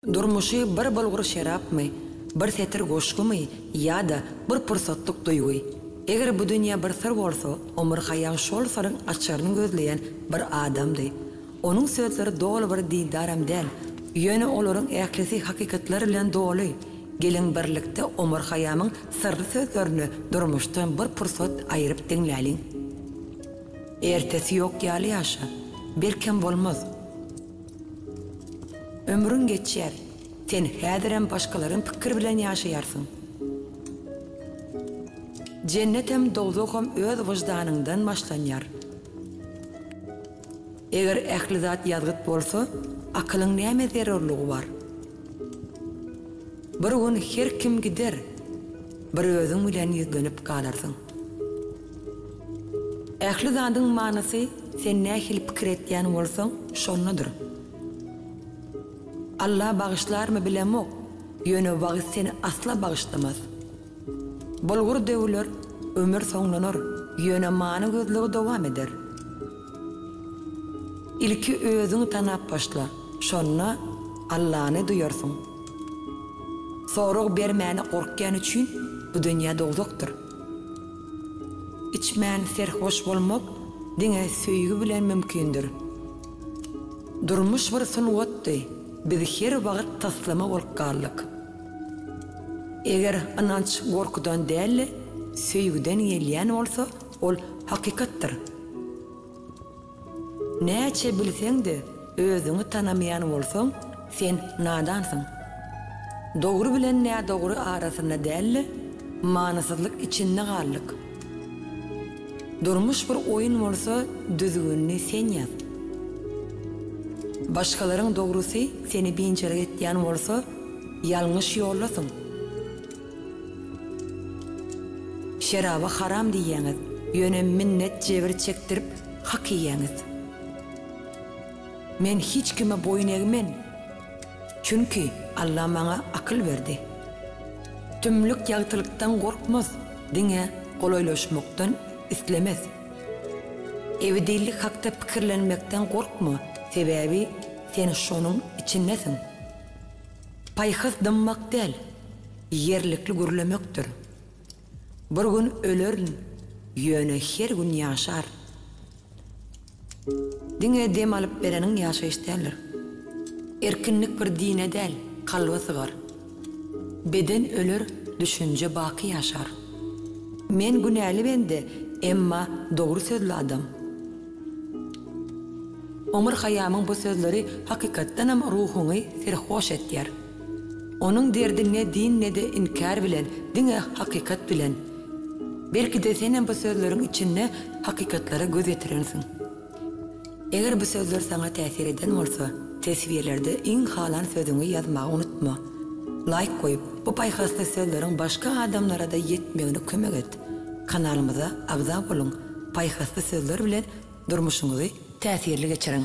Durmuşy bir bulgur şerapmy, bir setir goşgumy ýa-da bir pursatlyk duýgy? Eger bu dünýä bir syr bolsa, omurgaýaň şol syryň açaryny gözleýän bir adamdy. Onuň sözleri doly bir dildaram däl, ýöne olaryň ählisi hakykatlar bilen doly. Geliň birlikde omurgaýamyň syrly sözlerini durmuşdan bir pursat aýryp diňläliň. Ertesi ýok ýaly ýaşa. Belkem bolmaz. Ömrüň geçýär. Sen häzirem başgalaryň pikiri bilen ýaşaýarsyň. Jennetem, dowzaham öz wyždanyňdan başlanýar. Eger ähli zat ýazgyt bolsa, akylyň nämä zerurlygy bar? Bir gün her kim gider, bir özüň bilen ýüzlenip galarsyň. Ähli zadyň manysy sen nähili pikir etýän bolsaň şondadyr. Alla bagyşlarmy bilemok, ýöne wagyz seni asla bagyşlamaz. Bolgur döwüler, ömür soňlanar, ýöne many gözlegi dowam eder. Ilki özüňi tanap başla, şonda Allany duýarsyň. Sorag bermäne gorkýan üçin bu dünýä dowzakdyr. Içmän serhoş bolmak diňe söýgi bilen mümkindir. Durmuş bir sungatdy, biz her wagt taslama bolup galdyk. Eger ynanç gorkudan däl-de, söýgüden gelýän bolsa, Ol hakykatdyr. Näçe bilseň-de, özüňi tanamaýan bolsaň, sen nadansyň. Dogry bilen nädogry arasynda däl-de, manysyzlyk içinde galdyk. Durmuş bir oýun bolsa, düzgünini sen ýaz. Başgalaryň dogrusy seni biynjalyk etýän bolsa, ýalňyş ýoldasyň. Şeraba haram diýýäňiz, ýöne minnet jebir çekdirip hak iýýäňiz. Men hiç kime boýun egmen, çünki Alla maňa akyl berdi. Tümlük ýagtylykdan gorkmaz, diňe golaýlaşmakdan islemez. Ebedillik hakda pikirlenmekden gorkma, sebäbi sen şonuň içindesiň. Paýhas dymmak däl, ýerlikli gürlemekdir. Bir gün ölerin, ýöne her gün ýaşaryn. Diňe dem alyp bereniň ýaşaýyş däldir. Erkinlik bir dine däl, kalba sygar. Beden öler, düşünje baky ýaşar. Men günäli bende, emma dogry sözli adam. Omar Haýýamyň bu sözleri hakykatdanam ruhuňy serhoş etýär. Onuň derdi ne din ne-de inkär bilen, diňe hakykat bilen. Belki-de senem bu sözleriň içinde hakykatlara göz ýetirensiň. Eger bu sözler saňa täsir eden bolsa, teswirlerde iň halan sözüňi ýazmagy unutma. Laýk goýup, bu paýhasly sözleriň başga adamlara-da ýetmegine kömek et. Kanalymyza agza boluň, paýhasly sözler bilen durmuşyňyzy täsirli geçiriň!